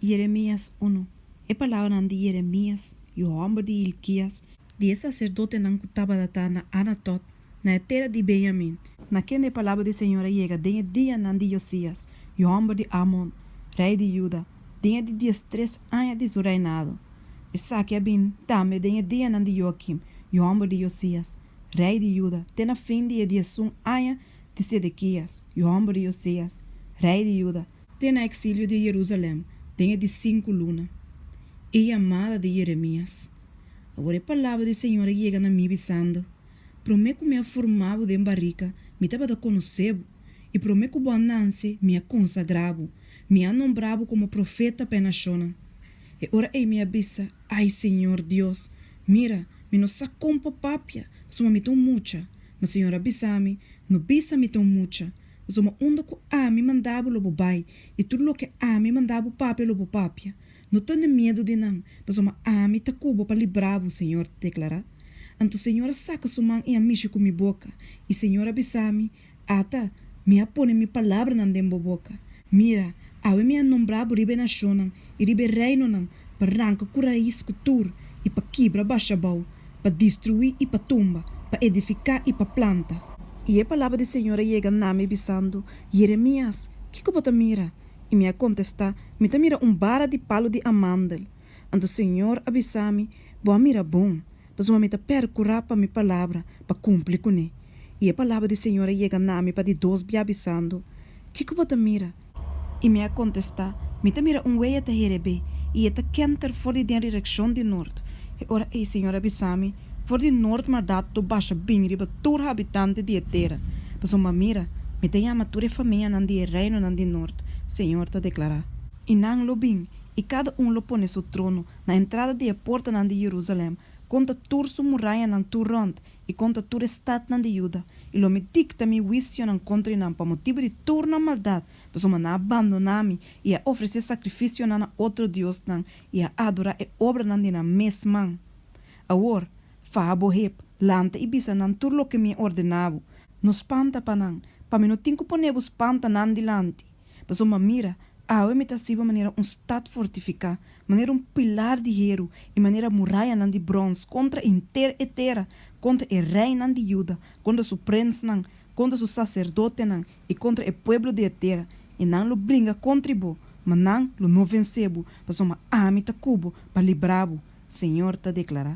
Jeremias unu E palabranan di Jeremias, yu hòmber di Hilkias, di e saserdotenan ku tabata ta na Anatot, na e tera di Benyamin, na kende e palabra di Señor a yega den e dianan di Yosias, yu hòmber di Amon, rei di Juda, den e di diestres aña di su reinado, esaki a bini tambe den e dianan di Joakim, yu hòmber di Josias, rei di Juda, te na fin di e diesun aña di Sedekias, yu hòmber di Josias, rei di Juda, te na exilio di Jerusalem den e di sinku luna. E yamada di Jeremias. Awor e palabra di Señor a yega na mi bisando, Promé ku mi a forma bo den barika, mi tabata konosé bo, i promé ku bo a nanse, mi a konsagrá bo, mi a nombrá bo komo profeta pa e nashonnan. E ora ei mi a bisa, Ai, Señor Dios, mira, mi no sa kon pa papia, pasobra mi ta un mucha. Ma Señor a bisa mi, No bisa mi ta un mucha, Pasobra unda ku ami manda bo, lo bo bai, i tur loke ami manda bo papia, lo bo papia. No tende miedu di nan, pasobra ami ta ku bo pa libra bo, señor ta deklará. Anto señor a saka su man i a mishi ku mi boka, i señor a bisa mi, Ata, mi a pone mi palabranan den bo boka. Mira, awe mi a nombra bo riba e nashonnan i riba e reinonan pa ranka ku rais ku tur, i pa kibra basha abou, pa destruí i pa tumba, pa edifiká i pa planta. I e palabra di Señor a yega na mi bisando, Yeremias, kiko bo ta mira? I mi a kontestá, Mi ta mira un bara di palu di amandel. Anto Señor a bisa mi, Bo a mira bon. Pasobra mi ta percurá pa mi palabra pa cumpli cuné, i e palabra di Señor a yega na mi pa di dos bia bisando, Kico bo ta mira? I mi a contestá, Mi ta mira un weya ta herebé, i e ta kenter for di den rireccion di nort. E ora ei Señor a bisa mi, For di nort maldad lo basha bin riba tur habitante di e tera, pasobra mira, mi ta yama tur e famianan di e reinonan di nort, Señor ta declará. I nan lo bin, i cada un lo pone su trono, na entrada di e portanan di Jerusalèm, konta tur su murayanan tur rònt, i konta tur e stadnan di Juda, i lo mi dikta mi huisionan kontra i nan pa motibu di tur nan maldat, pasobra nan a bandoná mi, i a ofresé sakrifisionan na otro diosnan, i a adorá e obranan di nan mes man. Awor, faha bo hep, lanta i bisa nan tur loke mi a ordená bo. No spanta pa nan, pa mi no tin ku pon'é bo spanta nan dilanti. Pasobra m'a mira, awe mi ta siba manera un stat fortifiká, manera un pilar di heru i manera murayanan di brons kontra henter e tera, kontra e reinan di Juda, kontra su prensnan, kontra su saserdotenan i kontra e pueblo di e tera, i nan lo bringa kontra i bo, ma nan lo no vensé bo, pasobra ami ta ku bo pa libra bo, Señor ta deklará.